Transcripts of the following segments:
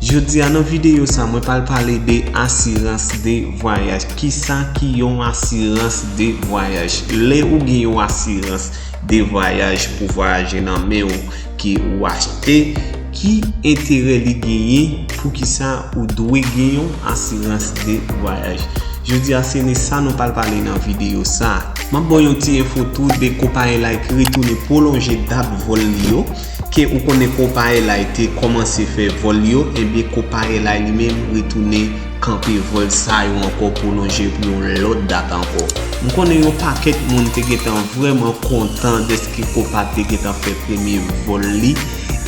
Jodi a nan videyo sa mwen pral pale de asirans de vwayaj kisa ki yon asirans de vwayaj lè ou gen yon asirans de vwayaj pou vwayaje nan men ou ke ou achte ki enterè li genyen poukisa ou dwe gen yon asirans de vwayaj jodi a se ne sa nou pral pale nan videyo sa. Map baw yon ti enfo tou de Copailite retounen pwolonje dat vòl li yo. Ke ou konnen Kopaelay te kòmanse fè vòl yo, enben Kopaelay li menm retounen kanpe vòl sa yo ankò pwolonje pou yon lòt dat ankò. M konnen yon pakèt moun te gentan vrèman kontan dèske Kopa te gentan fè premye vòl li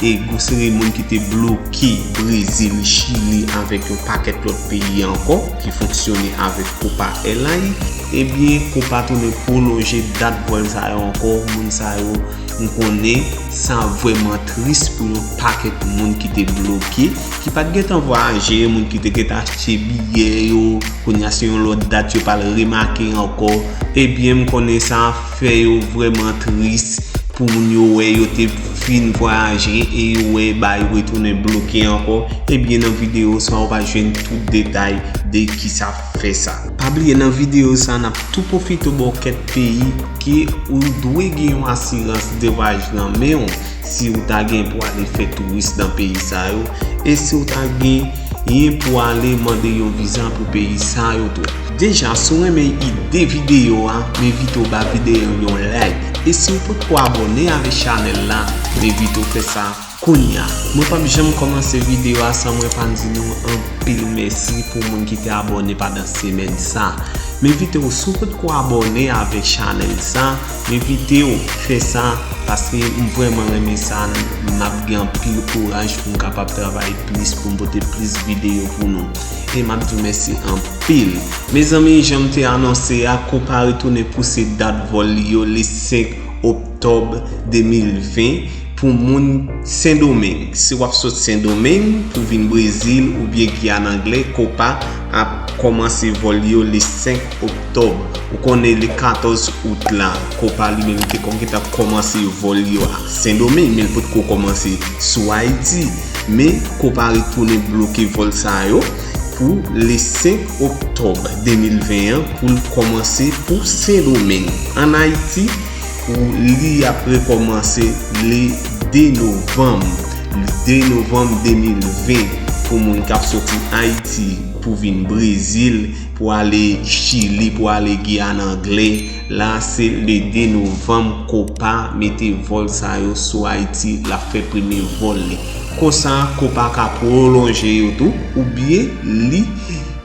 e gwo seri moun ki te bloke Brezil, Chili avèk yon pakèt lòt peyi ankò ki fonksyone avèk Kopaelay, enben Kopa tounen pwolonje dat vòl sa yo ankò, moun sa yo. M konnen sa ap vrèman tris pou yon pakèt moun ki te bloke, ki pa t gen tan vwayaje, moun ki te gen tan achte biyè yo, kounye a se yon lòt dat yo pa l remake ankò. Ebyen m konnen sa ap fè yo vrèman tris pou moun yo wè yo te fin vwayaje e yo wè ba yo retounen bloke ankò. Ebyen nan videyo sa ou va jwenn tout detay de ki sa. fè sa. Pa bliye nan videyo sa nap tou pwofite baw kèk peyi ke ou dwe gen yon asirans de vwayaj nan menw si ou ta gen pou ale fè touris nan peyi sa yo e si ou ta genyen pou ale mande yon viza pou peyi sa yo tou. Deja si ou renmen ide videyo a m envite w ba videyo yon like e si ou potko abone avèk chanèl la m envite w fè sa Kounya mwen pap janm kòmanse video a san mwen pa di nou anpil mèsi pou moun ki te abòne pandan semèn sa. M envite w si w potko abòne avèk chanèl sa, m envite w fè sa paske m vrèman renmen sa m ap gen anpil kouraj pou m kapab travay plis pou m pote plis video pou nou e m ap di w mèsi anpil. Mezanmi jan m te anonse a konpa retounen pouse dat vòl li yo le 5 oktòb 2020 Pou moun Sendomeng. Si w ap sot Sendomeng pou vin Brezil oubyen Giyàn Angle, Copa ap kòmanse vòl yo le 5 oktòb. Ou konnen le 14 out la, Copa li menm te konn gentan kòmanse vòl yo ak Sendomeng, men li potko kòmanse sou Ayiti. Men, Copa retounen bloke vòl sa yo pou le 5 oktòb 2020 an pou l kòmanse pou Sendomeng. Ann Ayiti. Pou li ap rekòmanse le 2 novanm, le 2 novanm 2020, pou moun kap soti Ayiti pou vin Brezil, pou ale Chili, pou ale Giyàn Angle, la se le 2 novanm Copa mete vòl sa yo sou Ayiti, lap fè premye vòl li. Konsa Copa ka pwolonje yo tou, oubyen li.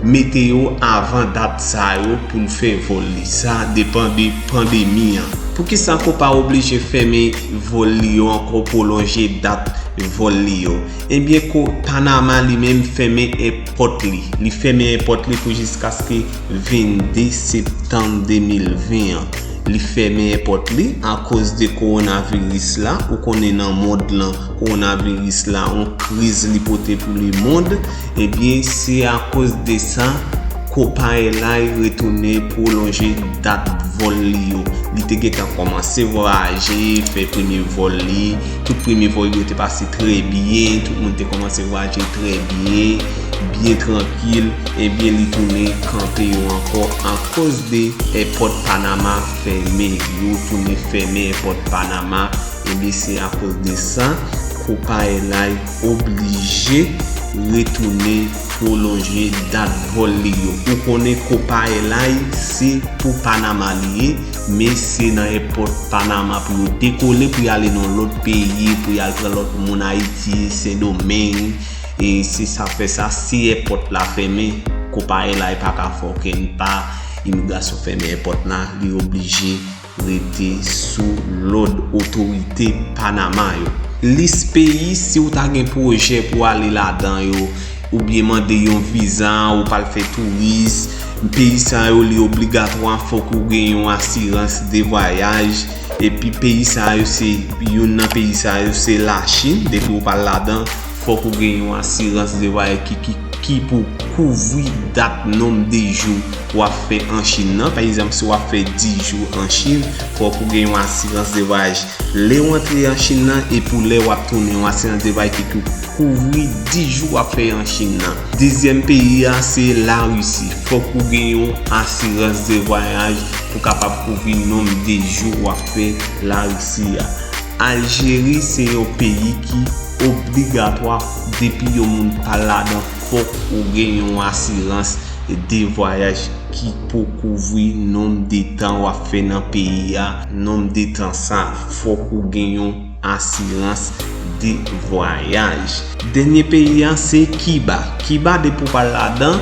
Mete yo avan dat sa yo pou n fè vòl li. Sa depan de pandemi an. Poukisa Copa oblije fèmen vòl li yo ankò pwolonje dat vòl li yo? Ebyen ko Panama li menm fèmen èpòt li. Li fèmen èpòt li pou jiskaske 22 septanm 2020 an. Li fèmen èpòt li akoz de kowonaviris la. Ou konnen nan mond lan kowonaviris la on kriz li pote pou lemond. Ebyen se akoz de sa, Copa Airlines retounen pwolonje dat vòl li yo. Li te gentan kòmanse vwayaje, fè premye vòl li. Tout premye vòl yo te pase trè byen, tout moun te kòmanse vwayaje trè byen, byen trankil. Ebyen li tounen kanpe yo ankò akoz de èpòt Panama fèmen. Yo tounen fèmen èpòt Panama. Ebyen se akoz de sa, Copa Airlines. oblije retoune prolonje dat vol li yo ou konnen kopaelay se pou panama li ye men se nan èpòt panama pou yo dekole pou yale nan lòt peyi pou yal pran lòt moun ayiti sendomeng e se sa fè sa si èpòt la fèmen kopaelay paka fòkè n pa imigrasyon fèmen èpòt la li oblije Rete sou lòd otorite Panama yo. Lis peyi si ou ta gen pwojè pou ale ladan yo, oubyen mande yon viza ou pa al fè touris, peyi sa yo li obligatwa fòk ou gen yon asirans de vwayaj, epi peyi sa yo se youn nan peyi sa yo se Lachin depi ou pa al ladan. Fòk ou gen yon asirans devayè ki pou kouvri dat nonb de jou w ap fè an Chin nan. Pa egzanp, si w ap fè 10 jou an Chin, fòk ou gen yon asirans devayaj lè w antre an Chin nan e pou lè w ap tounen, yon asirans devayaj ki pou kouvri 10 jou w ap fè an Chin nan. Dezyèm peyi a se Larisi. Fòk ou gen yon asirans devayaj pou kapab kouvri nonb de jou w ap fè Larisi a. Aljeri se yon peyi ki. obligatwa depi yon moun pa ladan fòk ou gen yon asirans de vwayaj ki pou kouvri nonb de tan wap fè nan peyi a nonb de tan sa fòk ou gen yon asirans de vwayaj. Dènye peyi a se kiba kiba depi ou pa ladan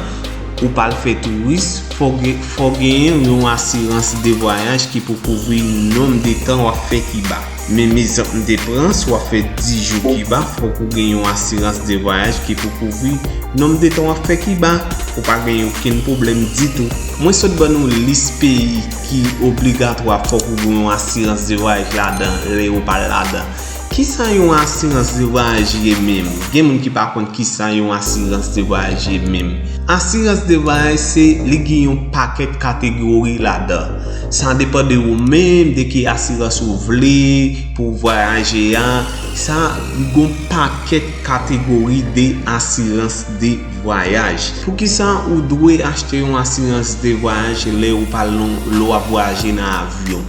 ou pa al fè touris fòk gen yon asirans de vwayaj ki pou kouvri nonb de tan wap fè kiba. Men mizanp m te pran si w ap fè 10 jou Kiba fòk ou gen yon asirans de vwayaj ki pou kouvri nonb de tan w ap fè Kiba pou pa gen okenn pwoblèm ditou. Mwen sot ban nou lis peyi ki obligatwa fòk ou gen yon asirans de vwayaj ladan lè ou pa ladan. Kisa yon asirans de vwayaj ye menm? Gen moun ki pa konn kisa yon asirans de vwayaj ye menm. Asirans de vwayaj se li gen yon pakèt kategori ladan. Sa depan de ou menm, de ki asirans ou vle pou ou vwayaje a. Sa gon pakèt kategori de asirans de vwayaj. Poukisa ou dwe achte yon asirans de vwayaj lè ou pa lon lè w ap vwayaje nan avyon?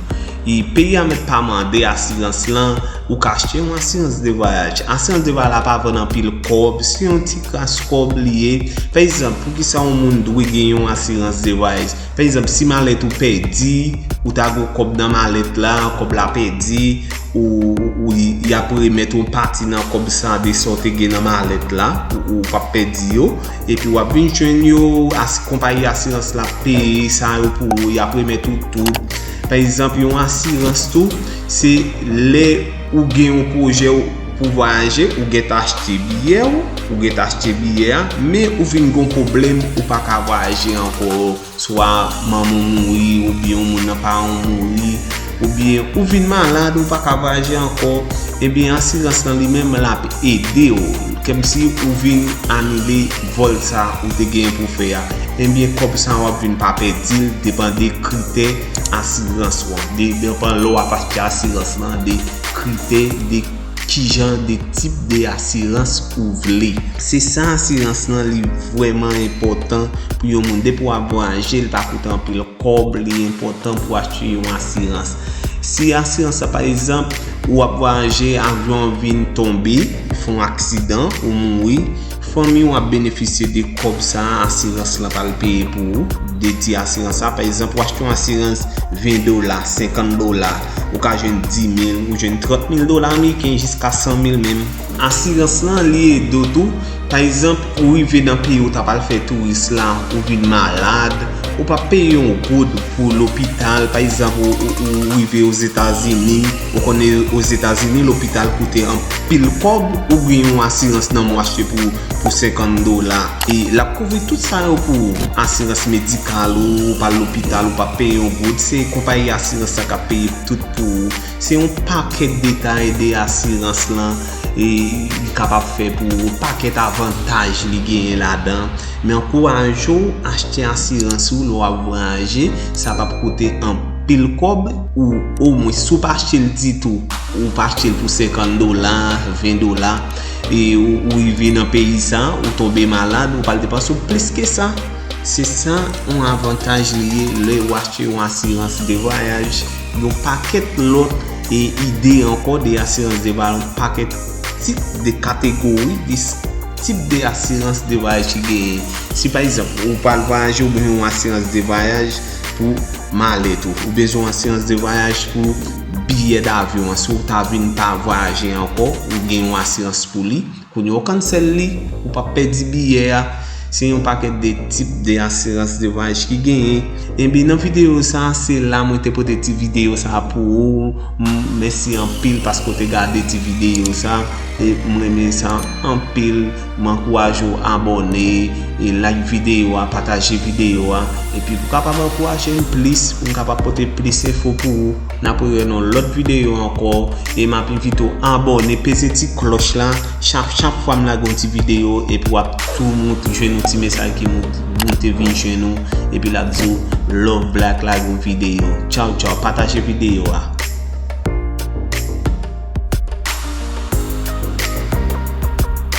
I Peyi a mèt pa mande asirans lan, ou ka achte yon asirans de vwayaj. Asirans de vwayaj la pa vann anpil kòb, se yon ti kras kòb li ye. Pa egzanp, poukisa yon moun dwe gen yon asirans de vwayaj? Pa egzanp si malèt ou pèdi ou ta gen yon kòb nan malèt la kòb la pèdi ou y ap remèt yon pati nan kòb sa a de sa w te gen nan malèt la ou pa p pèdi yo epi w ap vin jwenn yo konpayi asirans la ap peye sa yo pou ou y ap remèt ou tout pa egzanp yon asirans tou se lè Ou gen yon pwojè ou pou vwayaje, ou gen tan achte biyè ou, ou gen tan achte biyè a, men ou vin gon pwoblèm ou pa ka vwayaje ankò, swa manman ou mouri oubyen yon moun nan paran ou mouri, oubyen ou vin malad ou pa ka vwayaje ankò, ebyen asirans lan li menm lap ede ou, kèmsi ou vin anile vòl sa ou te genyen pou fè a, ebyen kòb sa wap vin pa pèdil depan de kritè. asirans ou an. Depan lè w ap achte asirans lan, de kritè, de kijan de tip de asirans ou vle. Se sa asirans lan li vwèman enpòtan pou yon moun. Depi w ap vwayaje, li pa koute anpil kòb, li enpòtan pou achte yon asirans. Si asirans la pa egzanp, ou ap vwayaje, avyon an vin tonbe, fon aksidan, ou mouri. Fanmi ou ap benefisye de kòb sa a asirans lan pral peye pou ou, dedye asirans sa a. Pa egzanp, ou achte yon asirans 20 dola, 50 dola, ou ka jwenn 10 mil, ou jwenn 30 mil dola ameriken, jiska 100 mil menm. Asirans lan, li ede w tou. Pa egzanp, ou rive nan peyi ou ta pral fè touris la, ou vin malad, ou pa peye yon goud pou lopital. Pa egzanp, ou rive Ozetazini. Ou konnen ozetazini lopital koute anpil kob ou gen yon asirans nan mwa se pou 50 dola e lap kouvri tout sa yo pou ou asirans medikal ou ou pa al lopital ou pa peye yon goud se konpayi asirans la kap peye tout pou ou se yon pakèt detay de asirans lan e li kapab fè pou ou yon pakèt avantaj li genyen ladan men ankouraje ou achte asirans ou lè wap vwayaje sa pap koute anpil. pil kòb ou omwen si w pa achte l ditou ou pa achte l pou 50 dola 20 dola e ou rive nan peyi sa ou tonbe malad ou pral depanse w plis ke sa se sa yon avantaj li ye lè ou achte yon asirans de vwayaj yon pakèt lòt e ide ankò de asirans de vwayaj yon pakèt tip de kategori de tip de asirans de vwayaj ki genyen si pa egzanp ou pral vwayaje ou bezwen yon asirans de vwayaj pou malet ou. Ou bezwen asirans de vwayaj pou biyè davyon an. Si ou ta vin pa vwayaje ankò, ou gen yon asirans pou li. Kounye ou kansèl li, ou pa pèdi biyè a. Se yon pakèt de tip de asirans de vwayaj ki genyen. Enbi nan videyo sa, se la mwen te pote ti videyo sa pou ou. Mèsi anpil paske ou te gade ti videyo sa. E mwen men sa anpil. M ankouraje w abòne, like videyo a, pataje videyo a epi pou kapab ankouraje m plis pou m kapab pote plis enfo pou ou N ap rewè nan yon lòt videyo ankò e m ap envite w abòne peze ti klòch la chak chak fwa m lage yon ti videyo epi w ap tou moute jwenn yon ti mesaj ki moute vin jwenn ou epi l ap di w Love Black lage yon videyo Tchaw tchaw Pataje videyo a.